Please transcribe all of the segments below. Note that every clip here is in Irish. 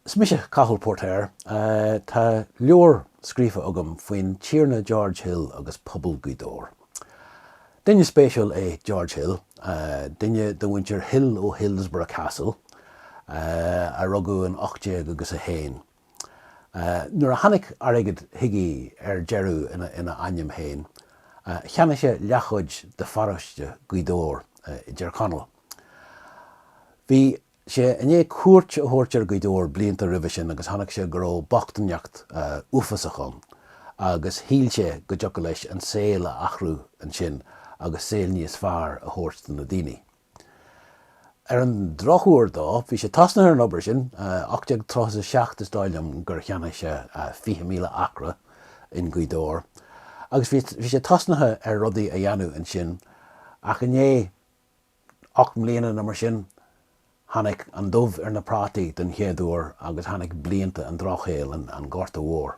Is mise Cathal Póirtéir. Tá leabhar scríofa agam faoin Tiarna George Hill agus pobal Ghaoth Dobhair. Duine spéisiúil é George Hill, duine de mhuintir Hill ó Hillsborough Castle, a rugadh in ocht déag agus a haon. Nuair a tháinig airgead chuige ar deireadh ina ainm féin, cheannaigh sé leathchuid de pharóiste Ghaoth Dobhair i dTir Chonaill. Bhí. sé i ndiaidh cuairt a thabhairt ar Ghaoth Dobhair blianta roimhe sin agus chonaic sé go raibh bochtaineacht uafásach ann agus shíl sé go dtiocfadh leis an saol a athrú ansin agus saol níos fearr a thabhairt do na daoine. Ar an drochuair dó, bhí sé tosnaithe ar an obair sin, 1837 is dóigh liom gur cheannaigh sé 20,000 acra i nGaoth Dobhair agus bhí sé tosnaithe ar rudaí a dhéanamh ansin ach i ndiaidh, ocht mbliana nó mar sin, tháinig an dubh ar na prátaí den chéad uair agus tháinig blianta an drochshaoil, an Ghorta Mhóir.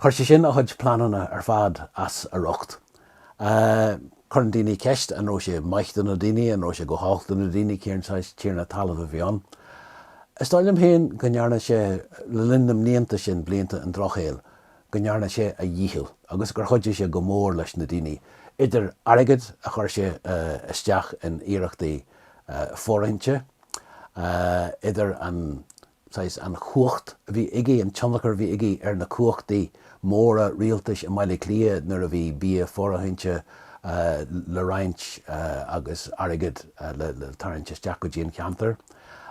Chuir sé sin a chuid pleananna ar fad as a riocht. Cuireann daoine ceist, an raibh sé maith do na daoine, an raibh sé go holc do na daoine, cén saghas tiarna talaimh a bhí ann? Is dóigh liom féin go ndearna sé, le linn na mblianta sin, blianta an drochshaoil, go ndearna sé a dhícheall agus gur chuidigh sé go mór leis na daoine, idir airgead a chuir sé isteach in iarrachtaí fóirithinte, idir an saghas, an chumhacht a bhí aige, an tionchar a bhí aige ar na cumhachtaí móra rialtais i mBaile Átha Cliath nuair a bhí bia fóirithinte le roinnt agus airgead le tarraingt isteach go dtí an cheantar.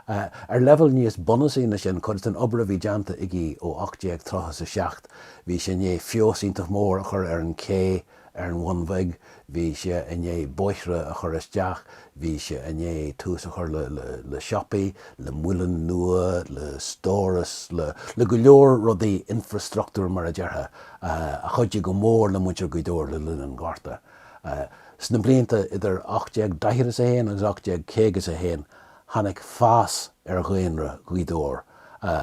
Ar leibhéal níos bunúsaí ná sin, cuid den obair a bhí déanta aige ó 1830 is 7 bhí sé i ndiaidh feabhas iontach mór a chur ar an ché ar an Bhun Bheag, bhí sé i ndiaidh bóithre a chur isteach, bhí sé i ndiaidh tús a chur le siopaí, le muileann nua, le stóras, le go leor rudaí infrastructúir mar a déarfá a chuidigh go mór le muintir Ghaoth Dobhair le linn an Ghorta. Sna blianta idir 1840 is 1 agus 1850 is 1, tháinig fás ar dhaonra Ghaoth Dobhair,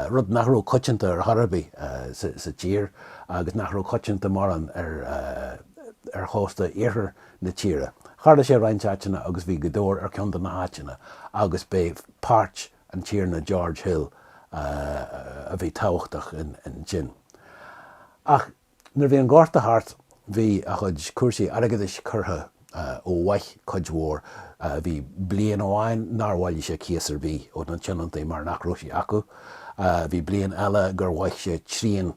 rud nach raibh coitianta ar chor ar bith sa tír agus nach raibh coitianta mórán ar chósta iarthar na tíre. Tharlaigh sé i roinnt áiteanna agus bhí Gaoth Dobhair ar cheann de na háiteanna agus b'é páirt an Tiarna George Hill a bhí tábhachtach ansin. Ach. Nuair a bhí an Gorta thart bhí a chuid cúrsaí airgeadais curtha ó mhaith cuid mhór. Bhí bliain amháin nár bhailigh sé cíos ar bith ó na tionóntaí mar nach raibh sé acu. Bhí bliain eile gur mhaith sé trian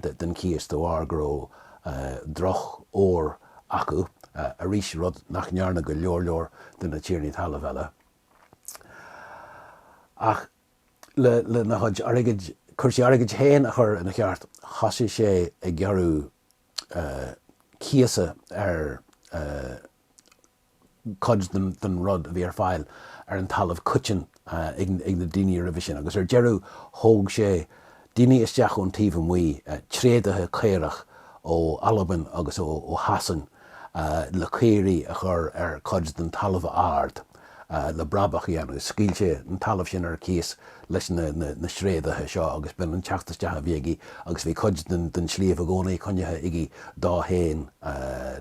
den chíos de bharr go raibh drochfhómhar acu arís, rud nach ndearna go leor leor de na tiarnaí talaimh eile. Ach. lena chuid airgid, cúrsaí airgid féin a chur ina cheart, thosaigh sé ag gearradh cíosa ar chuid den rud a bhí ar fáil ar an talamh coiteann ag na daoine roimhe sin agus ar deireadh thóg sé daoine isteach ón taobh amuigh, tréadaithe caorach ó Albain agus ó Shasain le caoirigh a chur ar chuid den talamh ard le brabach a dhéanamh. Scaoil sé an talamh sin ar cíos leis na sréadaithe seo agus b'in an teacht isteach a bhí aige agus bhí cuid den sliabh i gcónaí coinnithe aige dó féin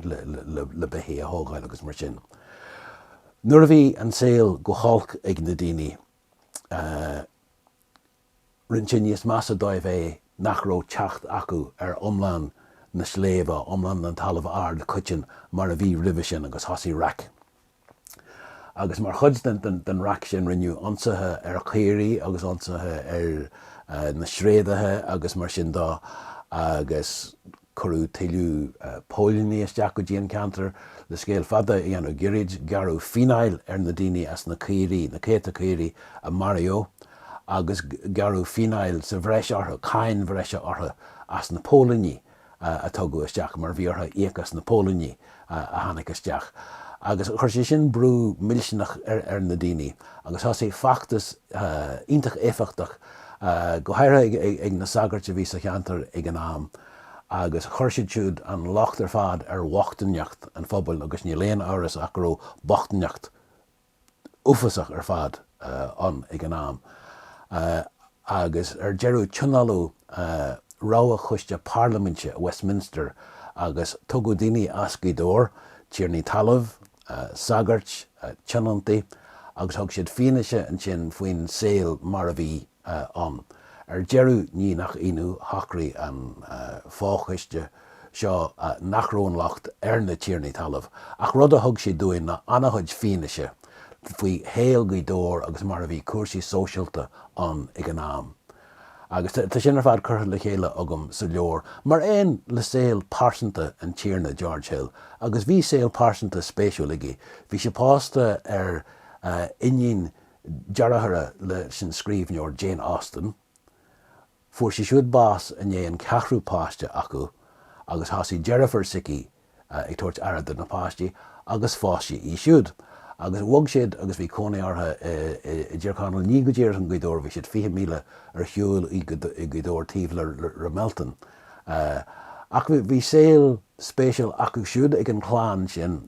le beithígh a thógáil agus mar sin. Nuair a bhí an saol go holc ag na daoine, rinne sé níos measa dóibh é nach raibh teacht acu ar iomlán na sléibhe, iomlán an talaimh aird choitinn mar a bhí roimhe sin agus thosaigh raic. Agus mar chuid den raic sin rinneadh ionsaithe ar chaoirigh agus ionsaithe ar na sréadaithe agus mar sin de agus. Cuireadh tuilleadh póilíní isteach go dtí an ceantar le scéal fada a dhéanamh girid, gearradh fíneáil ar na daoine as na caoirigh, na céadta caoirigh a maraíodh agus gearradh fíneáil sa bhreis orthu, cáin bhreise orthu as na póilíní a tugadh isteach mar bhí orthu íoc as na póilíní. a tháinig isteach agus chuir sé sin brú millteanach ar na daoine agus thosaigh feachtas iontach éifeachtach, go háirithe ag na sagairt a bhí sa cheantar ag an am agus chuir siad siúd an locht ar fad ar bhochtaineacht an phobail agus níl aon amhras ach go raibh bochtaineacht uafásach ar fad ann ag an am agus ar deireadh tionóladh rogha choiste parlaiminte i Westminster agus tugadh daoine as Gaoth Dobhair, tiarnaí talaimh, sagairt, tionóntaí, agus thug siad fianaise ansin faoin saol mar a bhí ann. Ar deireadh, ní nach ionadh, shocraigh an fochoiste seo nach raibh an locht ar na tiarnaí talaimh, ach rud a thug sé dúinn ná an-chuid fianaise faoi shaol Ghaoth Dobhair agus mar a bhí cúrsaí sóisialta ann ag an am. Agus tá sin ar fad curtha le chéile agam sa leabhar, mar aon le saol pearsanta an Tiarna George Hill. Agus bhí saol pearsanta spéisiúil aige. Bhí sé pósta ar iníon dearthára leis an scríbhneoir Jane Austen. Fuair sí siúd bás i ndiaidh an ceathrú páiste acu agus thosaigh deirfiúr s'aici ag tabhairt aire do na páistí agus phós sé í siúd agus bhog siad agus bhí cónaí orthu i dTír Chonaill, ní go díreach i nGaoth Dobhair, bhí siad fiche míle ar shiúl ó Ghaoth Dobhair taobh le Ramelton. Ach bhí saol spéisiúil acu siúd ag an chlann sin.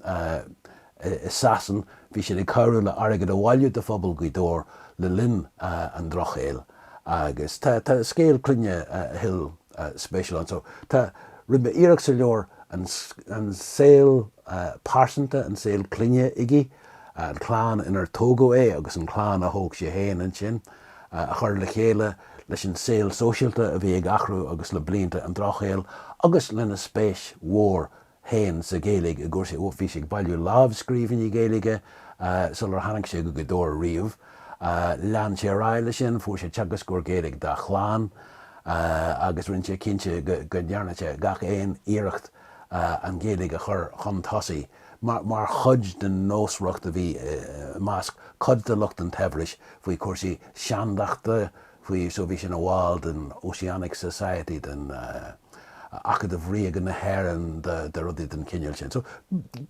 i Sasain, bhí siad ag cabhrú le airgead a bhailiú do phobal Ghaoth Dobhair le linn an Drochshaoil agus tá scéal clainne Hill spéisiúil ann. So tá roimhe iarracht sa leabhar an saol pearsanta, an saol clainne aige, an chlann inar tógadh é agus an chlann a thóg sé féin ansin, a chur le chéile leis an saol sóisialta a bhí ag athrú agus le blianta an Drochshaoil agus lena spéis mhór féin sa Ghaeilge i gcúrsaí bhí sé ag bailiú lámhscríbhinní Gaeilge sular tháinig sé go Gaoth Dobhair riamh. Lean sé ar aghaidh leis sin, fuair sé teagascóir Gaeilge dá chlann agus rinne sé cinnte go ndearna sé gach aon iarracht an Ghaeilge a chur chun tosaigh mar chuid den nósmhaireacht a bhí i measc cuid de lucht an tsaibhris faoi chúrsaí seandachta, faoi so bhí sé ina bhall den Ossianic Society, den Acadamh Ríoga na hÉireann, de rudaí den chineál sin. So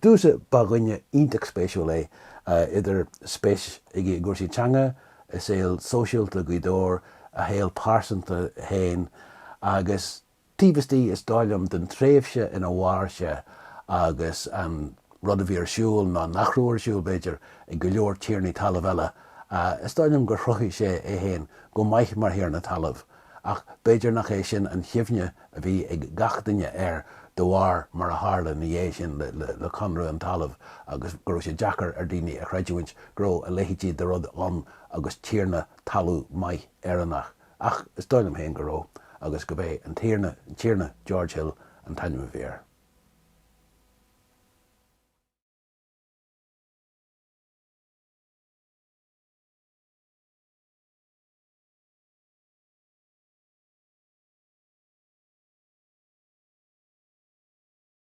domsa, ba dhuine iontach spéisiúil é, idir spéis aige i gcúrsaí teanga, i saol sóisialta Ghaoth Dobhair, a shaol pearsanta féin agus. Taobh istigh, is dóigh liom, den tréimhse ina mhair sé agus an rud a bhí ar siúl, nó nach raibh ar siúl, b'fhéidir, ag go leor tiarnaí talaimh eile, is dóigh liom gur chruthaigh sé é féin go maith mar thiarna talaimh, ach b'fhéidir nach é sin an chuimhne a bhí ag gach duine air de bharr mar a tharla ina dhiaidh sin le Conradh an Talaimh agus go raibh sé deacair ar dhaoine a chreidiúint go raibh a leithéidí de rud ann agus tiarna talún maith Éireannach. Ach is dóigh liom féin go raibh agus gurb é an, an Tiarna George Hill an t-ainm a bhí air.